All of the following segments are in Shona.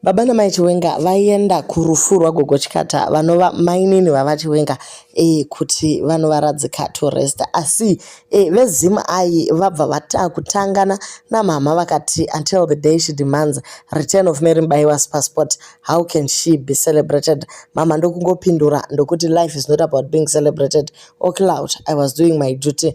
Baba namai Chiwenga vaienda kurufu rwagogo Chikata vanova mainini vava Chiwenga e, kuti vanovaradzika to rest asi e, veZim ayi vabva vata kutangana namama vakati until the day she demands return of Mary Mbaiwa's passport how can she be celebrated mama ndokungopindura ndokuti life is not about being celebrated or clout I was doing my duty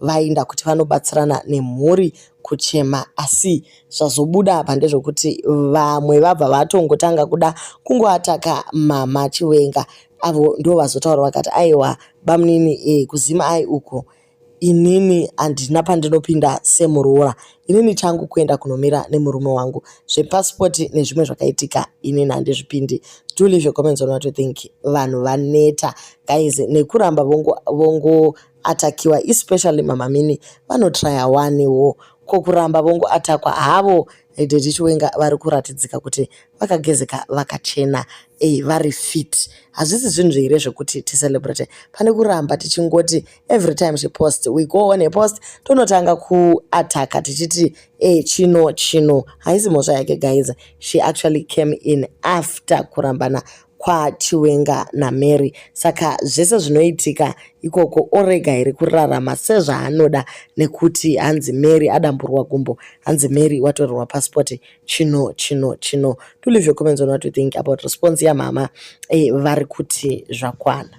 vainda kuti vanobatsirana nemhuri kuchema asi zvazobuda apa ndezvokuti vamwe vabva vatongotanga kuda kungoataka mama chiwenga avo ndo vazotaura vakati aiwa bamunini e, kuzima ai uko inini handina pandinopinda semuroora inini changu kuenda kunomira nemurume wangu zvepasipoti nezvimwe zvakaitika inini handizvipindi do leave your comments on what you think vanhu vaneta guys nekuramba vongo, vongo atakiwa especially mama mini vanotraya wani wo ko kuramba vongo atakwa havo daddy chiwenga vari kuratidzika kuti vakagezeka vakachena ey vari fit hazvisi zvinhu zveire zvekuti ticelebrate pane kuramba tichingoti every time she post we go on a post tonotanga kuataka tichiti e chino chino haisi mhosva yake guys she actually came in after kurambana kwaChiwenga naMary saka zvese zvinoitika ikoko orega here kurarama sezvaanoda nekuti hanzi Mary adamburwa gumbo hanzi Mary watorerwa passport chino chino chino to leave your comments on what you think about response yamama eh, vari kuti zvakwana